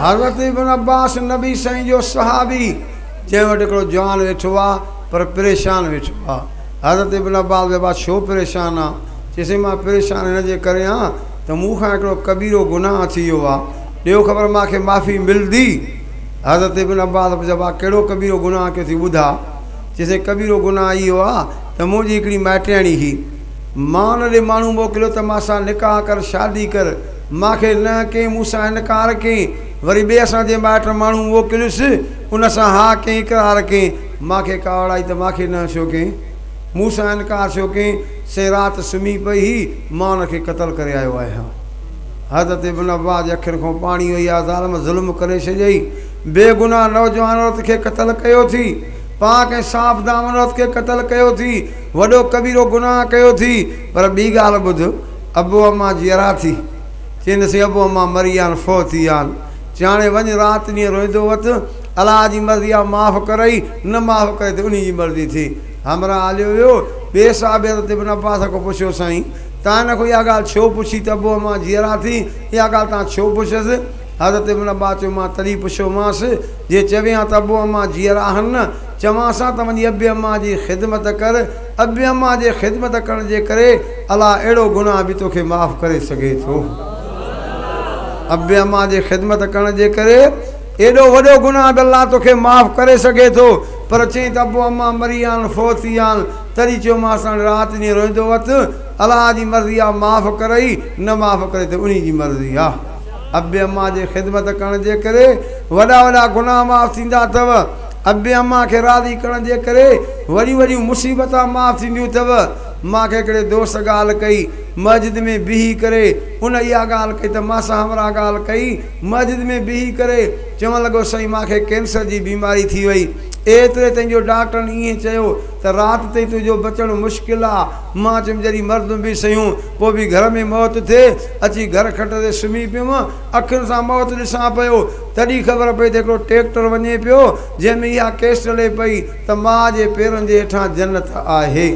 حضرت ابن عباس نبي سائين جو صحابي جنهن وٽ هڪڙو جوان ويٺو آ پر پريشان ويٺو آ حضرت ابن عباس چيو ابا ڇو پريشان آ چيس ٿي مان پريشان هن جي ڪري آ ته مون کان هڪڙو ڪبيرو گناهه ٿي ويو آ ڏيو خبر مان کي معافي ملدي حضرت ابن عباس پڇيو ابا ڪهڙو ڪبيرو گناهه ڪيو ٿي ٻڌاء چيس ٿي ڪبيرو گناهه اهو آ ته منهنجي هڪڙي مائٽياڻي هي مان ان ڏي ماڻهو موڪليو ته مان سان نڪاح ڪر شادي ڪر مان کي نه ڪنهن مون سان انڪار ڪين، وري ٻئي اسان جي مائٽ ماڻهو موڪليس، ان سان ها ڪين اقرار ڪين، مان کي ڪاوڙ آئي ته مان کي نه ڇو ڪين؟ مون سان انڪار ڇو ڪين؟ سين رات سمهي پئي هئي، مان ان کي قتل ڪري آيو آهيان. حضرت ابن عباس جي اکين کان پاڻي وهي آيو، ظالم ظلم ڪري ڇڏيئي، بي گناهه نوجوان عورت کي قتل ڪيو ٿي، پاڪ ۽ صاف دامن عورت کي قتل ڪيو ٿي، وڏو ڪبيرو گناهه ڪيو ٿي، پر ٻي ڳالهه ٻڌ، ابو اما جيئرا ٿي، چينسين ابو اما مري ويا آهن، فوت ٿي ويا آهن، چيائڻي وڃ رات ڏينهن روئيندو وت، الله جي مرضي آ معاف ڪرئي، نه معاف ڪرئي ته انهي جي مرضي ٿي. همراهه هليو ويو، ٻئي صحابي حضرت ابن عباس کان پڇيو سائين! توهان هن کان اها ڳالهه ڇو پڇي ته ابو اما جيئرا ٿي، اها ڳالهه توهان ڇو پڇيس؟ حضرت ابن عباس چيو مان تڏهن پڇيومانس، جي چوين ها ته ابو اما جيئرا آهن نه، چوانس ها ته وڃي ابي اما جي خدمت ڪر، ابي امان جي خدمت ڪرڻ جي ڪري الله اهڙو گناهه به توکي معاف ڪري سگهي ٿو ابي امان جي خدمت ڪرڻ جي ڪري ايڏو وڏو گناهه به الله توکي معاف ڪري سگهي ٿو پر چئين ته ابو امان مري ويان فوت ٿي ويان تڏهن چيومانس هاڻي رات ڏينهن روئندو وت الله جي مرضي آ معاف ڪرئي نه معاف ڪرئي ته انهي جي مرضي آ ابي امان جي خدمت ڪرڻ جي ڪري وڏا وڏا گناهه معاف ٿيندا اٿو ابي امان کي راضي ڪرڻ جي ڪري وڏيون وڏيون مصيبتان معاف ٿينديون اٿو. مان کي هڪڙي دوست ڳالهه ڪئي. مسجد ۾ بيهي ڪري ان اها ڳالهه ڪئي ته مان سان همراهه ڳالهه ڪئي. مسجد ۾ بيهي ڪري چوڻ لڳو سائين مان کي ڪينسر جي بيماري ٿي وئي. ايتري تائين جو ڊاڪٽرن ائين چيو ته رات تائين تنهنجو بچڻ مشڪل آ. مان چيم جڏهن مردون به سهيون پوء به گهر ۾ موت ٿئي. اچي گهر کٽ تي سمهي پيم. اکين سان موت ڏسان پيو، تڏهن خبر پئي ته هڪڙو ٽريڪٽر وڃي پيو، جنهن ۾ اها ڪيسٽ لي پئي ته ماء جي پيرن جي هيٺان جنت آهي.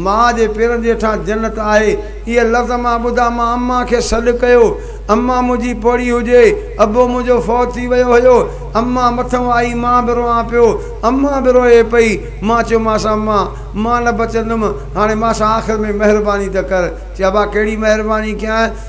ماء جي پيرن جي هيٺان جنت آهي، اهي لفظ مان ٻڌا مان امان کي سڏ ڪيو. امان منهنجي پوڙهي هجي، ابو منهنجو فوت ٿي ويو هيو. امان مٿئون آئي، مان به روئان پيو. امان به روئي پئي. مان چيومانس امان! مان نه بچندم، هاڻي مان سان آخر ۾ مهرباني ته ڪر. چي ابا ڪهڙي مهرباني ڪيانء؟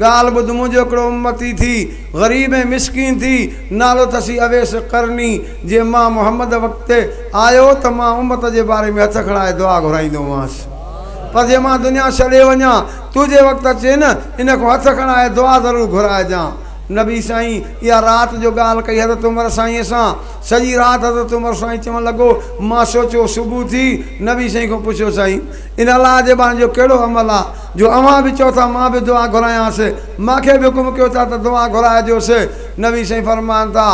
ڳالهه ٻڌ منهنجو هڪڙو امتي ٿي غريب ۽ مسڪين ٿي نالو تسي اويس قرني جي مان محمد وقت آيو ته مان امت جي باري ۾ هٿ کڻائي دعا گهرائيندو هئانس پر جي مان دنيا ڇڏي وڃان تنهنجي وقت اچي نه ان کان هٿ کڻائي دعا ضرور گهرائجان نبي سائين اها رات جو ڳالهه ڪئي حضرت عمر سائين سان سڄي رات حضرت عمر سائين چوڻ لڳو مان سوچيو صبح ٿي نبي سائين کان پڇيو سائين ان الله جي باري جو ڪهڙو عمل آ جو اوهان به چئو ٿا مان به دعا گهرانس، مان کي به حڪم ڪيو ٿا ته دعا گهرائجوس، نبي سائين فرمائن ٿا،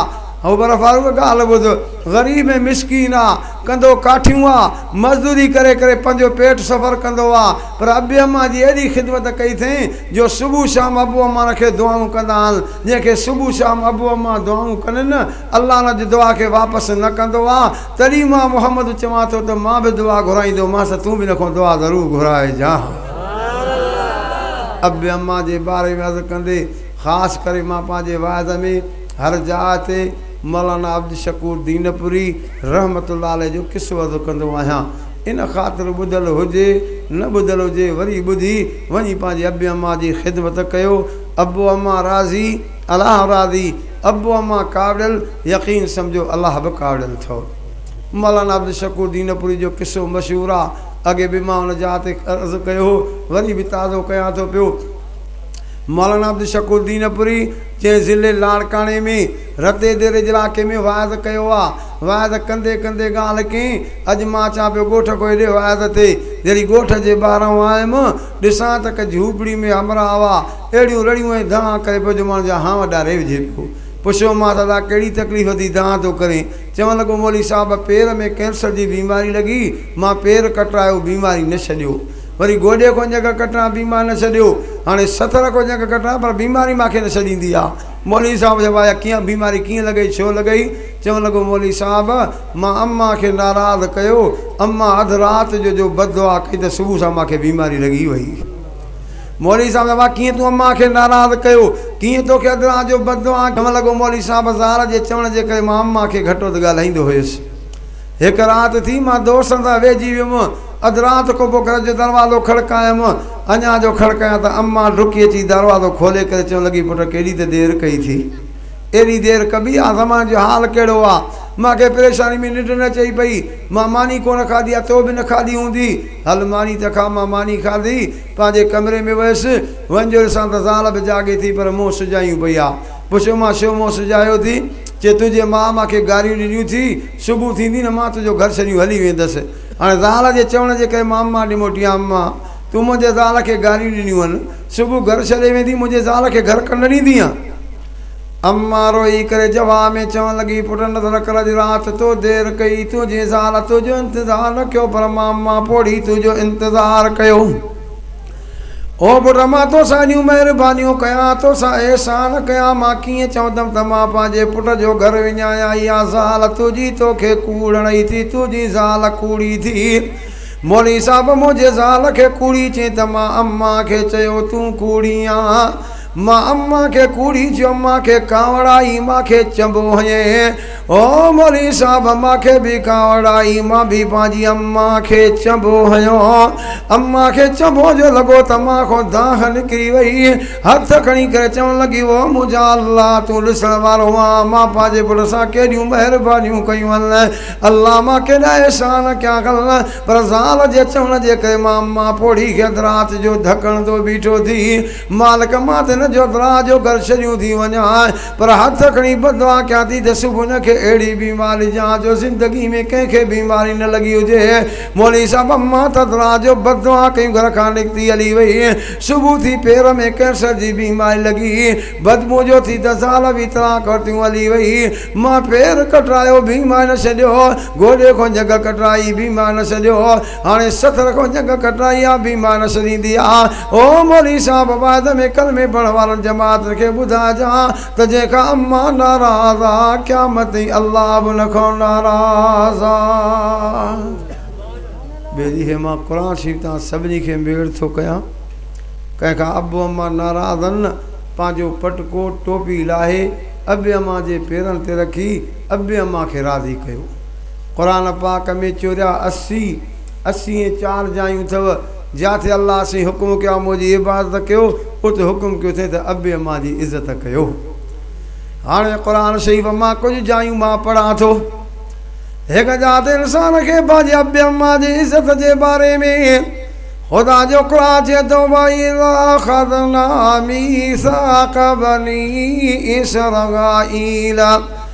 عمر فاروق ڳالهه ٻڌ، غريب ۽ مسڪين آ، ڪنڌو ڪاٺيون آ، مزدوري ڪري ڪري پنهنجو پيٽ سڦر ڪندو آ، پر ابي امان جي ايڏي خدمت ڪئي اٿئين جو صبح شام ابو امان کي دعائون ڪندا آهن، جنهن کي صبح شام ابو امان دعائون ڪنن، الله ان جي دعا کي واپس نه ڪندو آ، تڏهن مان محمد چوان ٿو ته مان به دعا گهرائيندومانس تون به ان کان دعا ضرور گهرائجانء. اب امان جي باري ۾ عرض ڪندي خاص ڪري مان پنهنجي واعظ ۾ هر جاء تي مولانا عبدالشڪور دينپوري رحمة الله عليه جو قصو عرض ڪندو آهيان ان خاطر ٻڌل هجي نه ٻڌل هجي وري ٻڌي وڃي پنهنجي اب امان جي خدمت ڪيو اب امان راضي الله راضي ابو اما ڪاوڙيل يقين سمجهو الله به ڪاوڙيل ٿئو مولانا عبدالشڪور دينپوري جو قصو مشهور آ اڳي به مان ان جاء تي عرض ڪيو هو وري به تازو ڪيان ٿو پيو مولانا عبدالشڪور دينپوري جنهن ضلعي لاڙڪاڻي ۾ رتي ديري جي علائقي ۾ واعظ ڪيو آ واعظ ڪندي ڪندي ڳالهه ڪئين اڄ مان اچان پيو ڳوٺ ڪو هيڏي واعظ تي جڏهن ڳوٺ جي ٻاهران آيم ڏسان ته ڪه جهوپڙي ۾ همراهه هئا اهڙيون رڙيون ۽ دانهن ڪري پيو جو ماڻهن جا هانء ڏاري وجهي پيو. پڇيومانس ادا ڪهڙي تڪليف ٿي دانهن ٿو ڪرين؟ چوڻ لڳو مولوي صاحب پير ۾ ڪينسر جي بيماري لڳي مان پير ڪٽرايو بيماري نه ڇڏيو. وري گوڏي کان ڄنگهه ڪٽران بيماري نه ڇڏيو. هاڻي ستر کان ڄنگهه ڪٽران پر بيماري مان کي نه ڇڏيندي آ. مولوي صاحب چيو واهه ڪيئن بيماري ڪيئن لڳئي ڇو لڳئي؟ چوڻ لڳو مولوي صاحب مان امان کي ناراض ڪيو امان اڌ رات جو جو بددعا ڪئي ته صبح سان مان کي بيماري لڳي وئي. مولوي صاحب زبان ڪيئن تون امان کي ناراض ڪيو ڪيئن توکي اڌ رات جو بد دعائن چوڻ لڳو مولوي صاحب زال جي چوڻ جي ڪري مان امان کي گهٽ وڌ ڳالهائيندو هيس هڪ رات ٿي مان دوستن سان ويهجي ويم اڌ رات ڪوبه گهر جو دروازو کڙڪايم اڃان جو کڙڪايان ته امان ڊڪي اچي دروازو کولي ڪري چوڻ لڳي پٽ ڪيڏي ته دير ڪئي ٿي ايڏي دير ڪبي آ زمان جو حال ڪهڙو آ مان کي پريشاني ۾ ننڊ نه اچئي پئي مان ماني ڪونه کاڌي آ تو به نه کاڌي هوندي هل ماني ته کا مان ماني کاڌي پنهنجي ڪمري ۾ ويس. وڃي ڏسان ته زال به جاڳي ٿي پر منهن سجايون پئي آ. پڇيومانس ڇو منهن سجايو ٿي؟ چي تنهنجي ماء مان کي گاريون ڏنيون ٿي، صبح ٿيندي نه مان تنهنجو گهر ڇڏيون هلي ويندس. هاڻي زال جي چوڻ جي ڪري مان مان ڏي موٽي آيم. مان تون منهنجي زال کي گاريون ڏنيون هن. صبح گهر ڇڏي ويندي منهنجي زال کي گهر ڪنڊ ڏيندينء. اما روئي ڪري جواب ۾ چوڻ لڳي، پٽ نه ته رکڻ جي رات تو دير ڪئي، تنهنجي زال تنهنجو انتظار رکيو پر مان مان پوڙهي تنهنجو انتظار ڪيو. او پٽ مان توسان ايڏيون مهربانيون ڪيان، توسان احسان ڪيان، مان ڪيئن چوندم ته مان پنهنجي پٽ جو گهر وڃايان، اها زال تنهنجي توکي ڪوڙڻئي ٿي، تنهنجي زال ڪوڙي ٿي. مولوي صاحب منهنجي زال کي ڪوڙي چئين ته مان اما کي چيو تون ڪوڙي آن. مان امان کي ڪوڙي چيو مان کي ڪانوڙائي مان کي چئبو هئي او مولوي صاحب مان کي به ڪانوڙائي مان به پنهنجي امان کي چئبو هيو امان کي چئبو جو لڳو ته مان کان دانهن نڪري وئي هٿ کڻي ڪري چوڻ لڳي او منهنجا الله تون ڏسڻ وارو آن مان پنهنجي پٽ سان ڪيڏيون مهربانيون ڪيون ان الله مان ڪيڏا احسان ڪيا ان پر زال جي چوڻ جي ڪري مان امان پوڙهي کي اڌ رات جو ڌڪڻ تي بيٺو ٿي مالڪ مان ته نه جوتلا جو گهر ڇڏيون ٿي وڃان پر هٿ کڻي بددعا ڪيان ٿي ته صبح هن کي اهڙي بيماري ڏيان جو زندگي ۾ ڪنهن کي بيماري نه لڳي هجي مولوي صاحب امان تتلا جو بددعا ڪيون گهر کان نڪتي هلي وئي صبح ٿي پير ۾ ڪينسر جي بيماري لڳي بدبو جو ٿي ته زال به طلاق ورتيون هلي وئي مان پير ڪٽرايو بيماري نه ڇڏيو گوڏي کان جهڳ ڪٽرائي بيماري نه ڇڏيو هاڻي سٿ رکو جنگ کٽرائي آ بيمار سريندي آ او مولوي صاحب واعد ۾ ڪلمي پڙهڻ وارن جماعتن کي ٻڌائجان ته جنهن کان اما ناراض آ قيامت تائين الله به ان کان ناراض آ ٻي ڏينهن مان قرآن شريف تان سڀني کي ميڙ ٿو ڪيان ڪنهن کان ابو اما ناراض آن پنهنجو پٽڪو ٽوپي لاهي ابي اما جي پيرن تي رکي ابي اما کي راضي ڪيو قرآن پاڪ ۾ چوريا اسي، اسي ۽ چار جايون اٿئو جاتي الله سين حڪم ڪيو آ منهنجي عبادت ڪيو اتي حڪم ڪيو اٿئي ته ابي امان جي عزت ڪيو هاڻي قرآن شريف مان ڪجهه جايون مان پڙهان ٿو هڪ جا تي انسان کي پنهنجي ابي امان جي عزت جي باري ۾ خدا جو قرآن چي ٿو بھي اخذنا ميثاق بني اسرائيل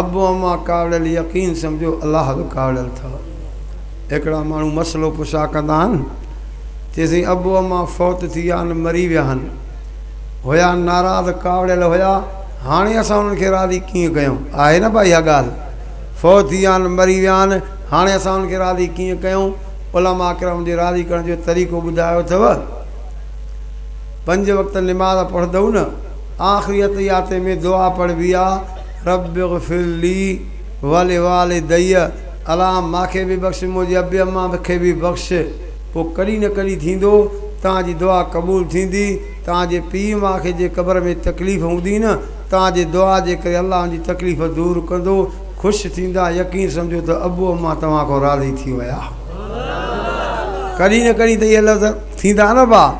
ابو اما ڪاوڙيل يقين سمجهو الله به ڪاوڙيل اٿئو هڪڙا ماڻهو مسئلو پڇا ڪندا آهن چيسين ابو اما فوت ٿي ويا آهن مري ويا آهن هيا ناراض ڪاوڙيل هيا هاڻي اسان انهن کي راضي ڪيئن ڪيون آهي نه بھاء اها ڳالهه فوت ٿي ويا آهن مري ويا آهن هاڻي اسان انهن کي راضي ڪيئن ڪيون علماء ڪرام جي راضي ڪرڻ جو طريقو ٻڌايو اٿئو پنج وقت نماز پڙهندئو نه آخري اتحياتي ۾ دعا پڙهبي آ، رب اغفر لي ولوالدي، الا مان کي به بخش منهنجي ابي اما کي به بخش، پوء ڪڏهن نه ڪڏهن ٿيندو توهان جي دعا قبول ٿيندي، توهان جي پيء ماء کي جي قبر ۾ تڪليف هوندي نه توهان جي دعا جي ڪري الله ان جي تڪليف دور ڪندو، خوش ٿيندا، يقين سمجهو ته ابو اما توهان کان راضي ٿي ويا. ڪڏهن نه ڪڏهن ته اهي لفظ ٿيندا نه ڀاء.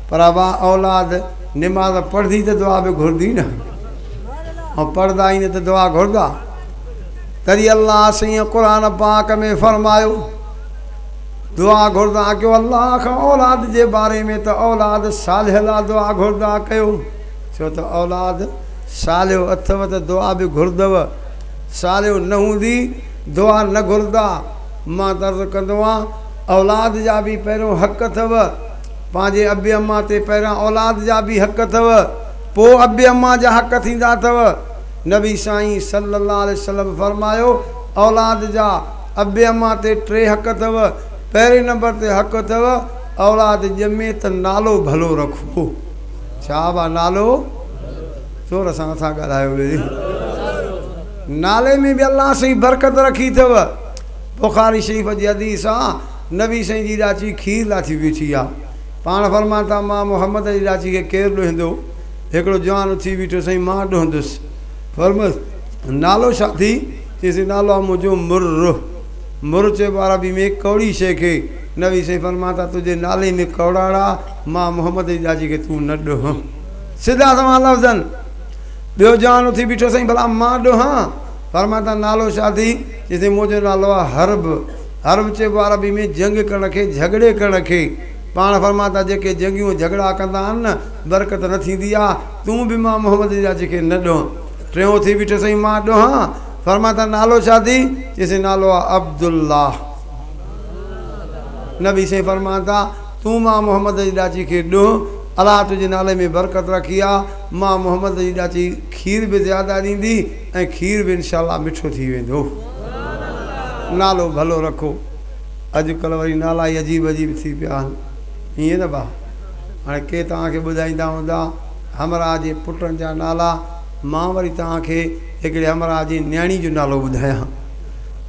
پر ابا اولاد نماز پڙهدي ته دعا به گهرندي نه هئي ۽ پڙهندا ئي نه ته دعا گهردا تري الله سيئن قرآن پاڪ ۾ فرمايو دعا گهردا ڪيو الله کان اولاد جي باري ۾ ته اولاد صالح لا دعا گهردا ڪيو ڇو ته اولاد صالح اٿو ته دعا به گهردو صالح نه هوندي دعا نه گهردا مان درد ڪندو آهيان اولاد جا به پهريون حق اٿو پنهنجي ابي امان تي پهريان اولاد جا به حق اٿو پوء ابي امان جا حق ٿيندا اٿو نبي سائين صلي الله عليه وسلم فرمايو اولاد جا ابي امان تي ٽي حق اٿو پهرين نمبر تي حق اٿو اولاد ڄمي ته نالو ڀلو رکو چابا نالو زور سان نٿا ڳالهايو ويري نالي ۾ به الله سائين برڪت رکي اٿو بخاري شريف جي حديث آ نبي سائين جي ڏاچي کير لا ٿي بيٺي آ. پاڻ فرمان ٿا مان محمد جي ڏاچي کي ڪير ڏوهندو؟ هڪڙو جوان اٿي بيٺو سائين مان ڏوهندس. فرمس نالو ڇا ٿي؟ چيس نالو آ منهنجو مرر. مرر چئبو عربي ۾ ڪوڙي شيء کي. نبي سائين فرمان ٿا تنهنجي نالي ۾ ڪوڙاڙا مان محمد جي ڏاچي کي تون نه ڏوهه. سڌا سنوان لفظن ٻيو جوان اٿي بيٺو سائين ڀلا مان ڏوهان؟ فرمان ٿا نالو ڇا ٿي؟ چيس منهنجو نالو آ حرب. حرب چئبو آهي عربي ۾ جنگ ڪرڻ کي، جهڳڙي ڪرڻ کي. پاڻ فرمائن ٿا جيڪي جنگيون ۽ جهڳڙا ڪندا آهن نه برڪت نه ٿيندي آهي، تون به مان محمد جا جيڪي نه ڏونهن. ٽيون ٿي بيٺو سائين مان ڏونهان؟ فرمائن ٿا نالو ڇا اٿئي؟ چئي سائين نالو آهي عبدالله. نبي سائين فرمائن ٿا تون مان محمد جي ڏاچي کي ڏونهن، الله تنهنجي نالي ۾ برڪت رکي آهي، مان محمد جي ڏاچي کير به زياده ڏيندي، ۽ کير به انشاء الله مٺو ٿي ويندو نالو ڀلو رکو اڄ ڪلهه وري نالا ئي عجيب عجيب ٿي پيا آهن ائين نه ڀا هاڻي ڪي توهان کي ٻڌائيندا هوندا همراهه جي پٽن جا نالا مان وري توهان کي هڪڙي همراهه جي نياڻي جو نالو ٻڌايان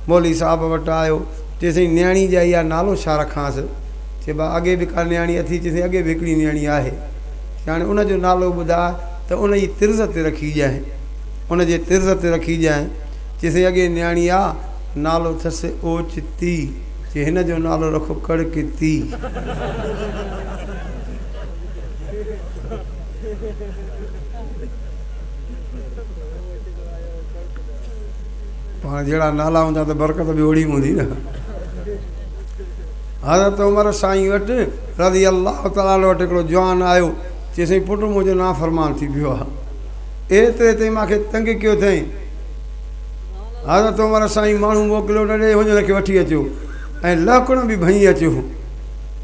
مولوي صاحب وٽ آيو چي سائين نياڻي جي آئي آهي نالو ڇا رکانس چي ڀا اڳي به ڪا نياڻي اٿي چي سائين اڳي به هڪڙي نياڻي آهي چي هاڻي ان جو نالو ٻڌاء ته ان جي طرز تي رکي ڏيانء ان جي طرز تي رکي ڄائين. چيس اي اڳئي نياڻي آ، نالو اٿس اوچتي، چي هن جو نالو رکو ڪڙڪتي. پاڻ جهڙا نالا هوندا ته برڪت به اوڙي هوندي نه. حضرت عمر سائين وٽ رضي الله تعالٰي عنه وٽ هڪڙو جوان آيو، چيس اي پٽ منهنجو نافرمان ٿي پيو آ. ايتري تائين مان کي تنگ ڪيو اٿئين. حضرت عمر سائين ماڻهو موڪليو نه ڏي وڃ هن کي وٺي اچو ۽ لهڪڻ به ڀڃي اچو.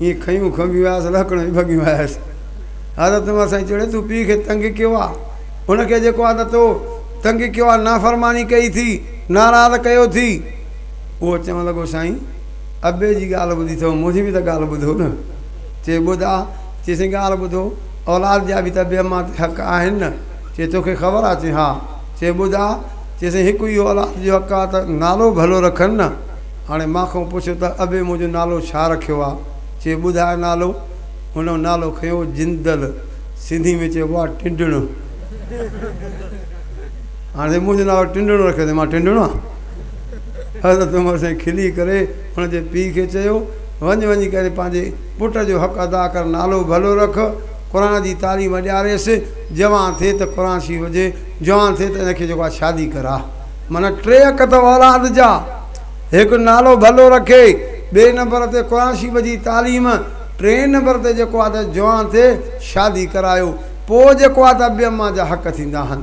ايئن کنيون کنڀيون آيس لهڪڻ به ڀڳيون آيس. حضرت عمر سائين چيو تون پيء کي تنگ ڪيو آ هن کي جيڪو آ نه تو تنگ ڪيو آ نافرماني ڪئي ٿي ناراض ڪيو ٿي. اهو چوڻ لڳو سائين ابي جي ڳالهه ٻڌي اٿو منهنجي به ته ڳالهه ٻڌو نه. چي ٻڌ آ. چي سائين ڳالهه ٻڌو. اولاد جا به ته ٻئي مان تي حق آهن نه؟ چي توکي خبر آ؟ چي ها. چي ٻڌاء؟ چي سائين هڪ اهو اولاد جو حق آ ته نالو ڀلو رکن نه؟ هاڻي مان کان پڇ ته ابي منهنجو نالو ڇا رکيو آ؟ چي ٻڌاء نالو؟ هن نالو کنيو جندل، سنڌي ۾ چئبو آ ٽنڊڻ. هاڻي سائين منهنجو نالو ٽنڊڻ رکيو اٿئي مان ٽنڊڻ آ؟ حضرت عمر سائين کلي ڪري هن جي پيء کي چيو وڃ وڃي ڪري پنهنجي پٽ جو حق ادا ڪر نالو ڀلو رک قرآن جي تعليم ڏياريس جوان ٿئي ته قرآن شريف هجي جوان ٿئي ته ان کي جيڪو آهي شادي ڪراء معنيٰ ٽي حق اٿو اولاد جا هڪ نالو ڀلو رکي ٻئي نمبر تي قرآن شريف جي تعليم ٽئين نمبر تي جيڪو آهي ته جوان ٿئي شادي ڪرايو پوء جيڪو آهي ته ابي اما جا حق ٿيندا آهن.